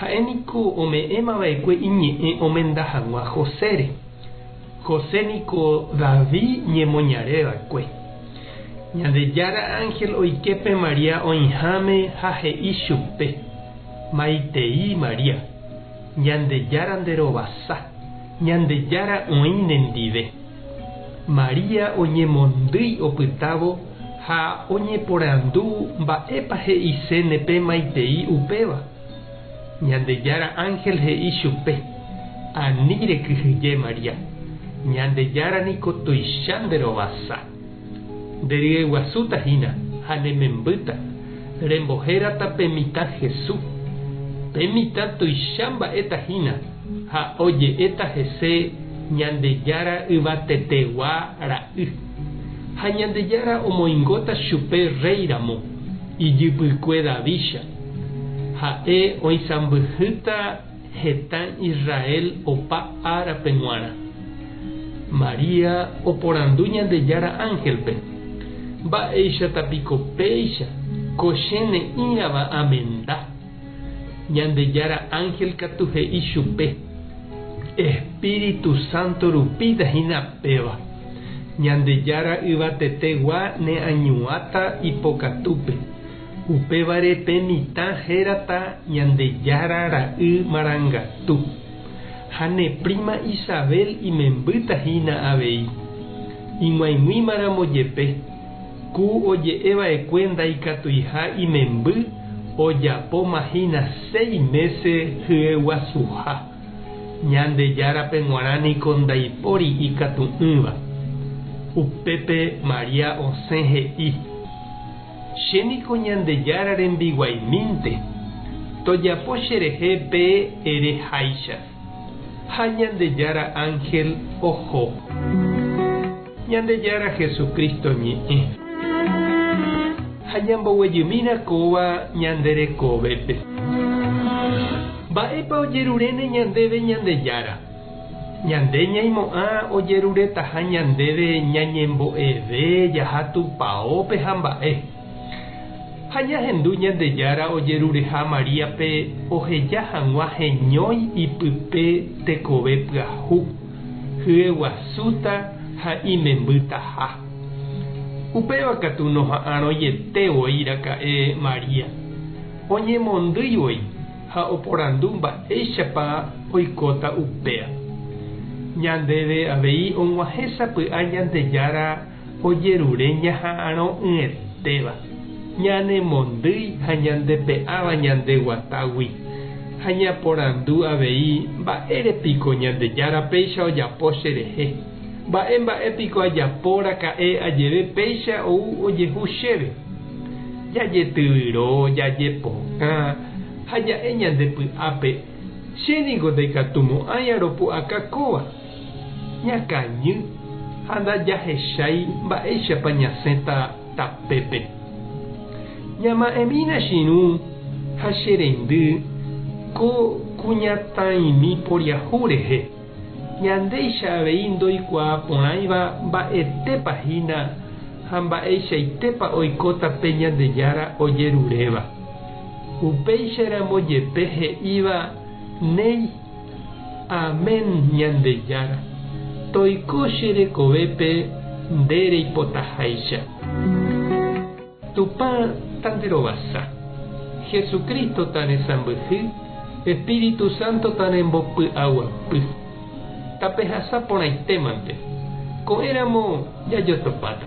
Ha'e niko ome'ẽma va'ekue iñe'ẽ omenda hag̃ua Josére. José niko David ñemoñare va'ekue. Ñandejára ánhel oike pe María oĩháme ha he'i chupe, Maitei María, Ñandejára nde rovasa, Ñandejára oĩ ne ndive. María oñemondýi opytávo ha oñeporandu mba'épa he'iséne pe maitei upéva. Ñandejára ánhel he'i chupe, Ani rekyhyje, María, Ñandejára niko tuicha nderovasa. Nderyeguasúta hína ha nemembýta, rembohérata pe mitã Hesu. Pe mitã tuicha mba'éta hína ha oje'éta hese Ñandejára Yvatetegua Ra'y. Ha Ñandejára omoingóta chupe rréiramo, ijypykue Davícha. Ha'e oisãmbyhýta heta Israel opa árape g̃uarã. María oporandu Ñandejára ángelpe, Mba'éichata piko péicha ko che ne'ĩrava amenda? Ñandejára ángel katu he'i chupe, Espíritu Santo rupíta hína péva. Ñandejára Yvatetegua neañuãta ipokatúpe. Upévare pe mitã hérata Ñandejára ra'y marangatu, ha ne príma Isabel imembýta hína avei. Ig̃uaig̃uímaramo jepe, ku oje'e va'ekue ndaikatuiha imemby ojapóma hína seis mése hyeguasuha. Ñandejárape g̃uarã niko ndaipóri ikatu'ỹva. Upépe María osẽ he'i. Che niko Ñandejára rembiguaimínte, tojapo cherehe pe ere háicha. Ha Ñandejára ánhel oho. Ñandejára Jesucristo ñe'ẽ. Ha ñamboguejymína kóva ñande rekovépe. Mba'épa ojeruréne ñandéve Ñandejára? Ñande ñaimo'ã ojeruretaha ñandéve ñañembo'eve jaha tupaópe ha mba'e. Ha ñahendu Ñandejára ojerureha Maríape oheja hag̃ua heñói ipype tekove pyahu, hyeguasúta ha imembytaha. Upéva katu noha'arõiete voi raka'e María, oñemondýi voi. ha oporandu mba'éichapa oikóta upéva. Ñandéve avei og̃uahẽ sapy'a Ñandejára ojerure ñaha'arõ'ỹetéva, ñanemondýi ha ñandepe'áva ñande guatágui, ha ñaporandu avei mba'ére piko Ñandejára péicha ojapo cherehe, mba'e mba'e piko ajapo raka'e ajeve péicha ou ojehu chéve. Jajetyvyro, jajepokã, ha ja'e ñande py'ápe, che ningo ndaikatumo'ãi aropu'aka kóva. Ñakañy ha ndajahechái mba'éichapa ñasẽta tapépe. Ñama'ẽmína chirũ ha che reindy ko kuñataĩmi poriahu rehe, ñandéicha avei ndoikuaa porãiva mba'etépa hína ha mba'eichaitépa oikóta pe Ñandejára ojeruréva. Upéicharamo jepe he'íva néi, Amén Ñandejára, toiko che rekovépe nde reipotaháicha. Tupã tanderovasa, Jesucristo taresãmbyhy, Espíritu Santo tarembopy'aguapy. Tapehasa porãite mante. Ko'ẽramo jajotopáta.